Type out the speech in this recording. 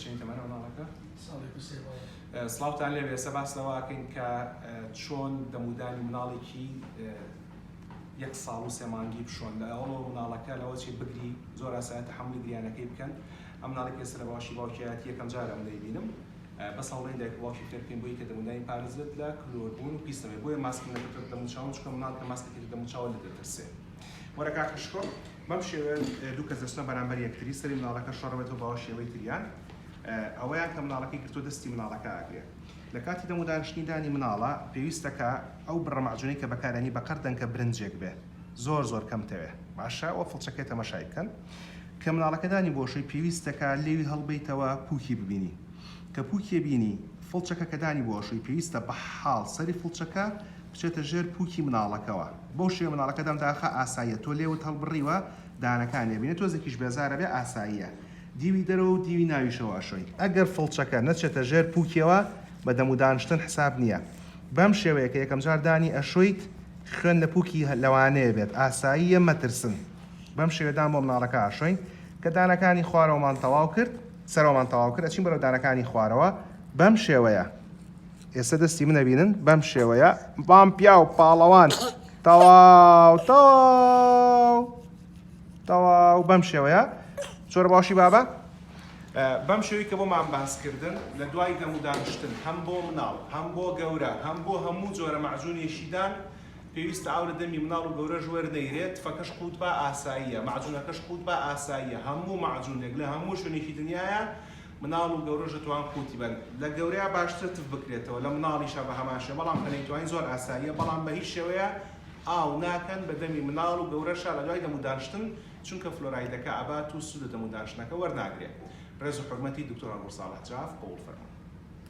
چەند تەمەنە مناڵەکە؟ ساڵێک و سێ مانگ. سڵاوتان لێبێ ئێستا باس لەوە ئەکەین کە چۆن دەمودانی مناڵێکی یەک ساڵ و سێ مانگی بشۆن لە ئەوەڵەوە مناڵەکە لەوە چی بگری زۆر ئاسایە تەحەمولی گریانەکەی بکەن ئەم مناڵی کە ئێستا لە باشی باوکیایەتی یەکەم جارە من دەیبینم بەس هەوڵێن دایک و باوکی فێر بکەین بۆی کە دەمودانی پارێزبێت لە کلۆربوون و پیسەوەی بۆیە ماسک نەکردووەتە دەموچاو چونکە مناڵ کە ماسک دەکرێتە دەموچاوە لێ دەترسێ وەرە کاکە شکۆ. بەم شێوەیە دوو کەس دەچنە بەرامبەر یەکتری سەری مناڵەکە شۆڕەبێتەوە باوە شێوەی تریان ئەوەیان کە مناڵەکەی گرتۆ دەستی مناڵەکە ئاگرێت لە کاتی دەمو دانیشتنی دانی مناڵە پێویستە کە ئەو بڕە مەعجونەی کە بەکارانی بە قەر دەنکە برنجێک بێ زۆر زۆر کەم تەوێ باشە وە فڵچەکەی تەمەشای بکەن کە مناڵەکە دانی بۆشەی پێویستە کە لێوی هەڵبیتەوە پوکی ببینی کە پوکێ بینی فڵچەکە کە دانی بۆشەی پێویستە بە حاڵ سەری فڵچەکە بچێتە ژێر پووکی مناڵەکەوە بەو شێوەیە مناڵەکە دەم داخا ئاساییە تۆ لێوت هەڵبڕیوە دانەکانی ئەبینێ تۆزێکیش بێزارە بێ ئاساییە دیوی دەرەوە و دیوی ناویشەوە ئەشۆی ئەگەر فڵچەکە نەچێتە ژێر پووکیەوە بە دەم و دانشتن حساب نییە بەم شێوەیە کە یەکەم جار دانی ئەشۆیت خوێن لە پووکی لەوانەیە بێت ئاساییە مەترسن بەم شێوەیە دان بۆ مناڵەکە ئەشۆین کە دانەکانی خوارەوەمان تەواو کرد سەرەوەمان تەواو کرد ئەچین بەرەو دانەکانی خوارەوە بەم شێوەیە. ئێستا دەستی من ئەبینن بەم شێوەیە بام پیاو پاڵەوان تەواو تەواو تەواو بەم شێوەیە چۆرە باشی بابە بەم شێوی کە بۆمان باسکردن لە دوای دەم و دانیشتن هەم بۆ مناڵ هەم بۆ گەورە هەم بۆ هەموو جۆرە مەعجونێشیدان پێویستە ئاو لە دەمی مناڵ و گەورە ژوەر نەیرێت فەکەش قووت با ئاساییە مەعجونەکەش قووت با ئاساییە هەموو مەعجونێک لە هەموو شوێنێکی دنیاە مناڵ و گەورەش دەتوان قوتی بەن لە گەورەیا باشترە تف بکرێتەوە لە مناڵیشا بە هەمان شێوە بەڵام کە نەیتوانی زۆر ئاساییە بەڵام بە هیچ شێوەیە ئاو ناکەن بە دەمی مناڵ و گەورەشا لە دوای دەموو دانشتن چونکە فلۆرایدەکە ئەبات و سوود لە دەموو دانشتنەکە وەرناگرێ ڕێز و حورمەتی دکتۆر هەڵگوڕ ساڵح جاف قبوڵ فەرموو.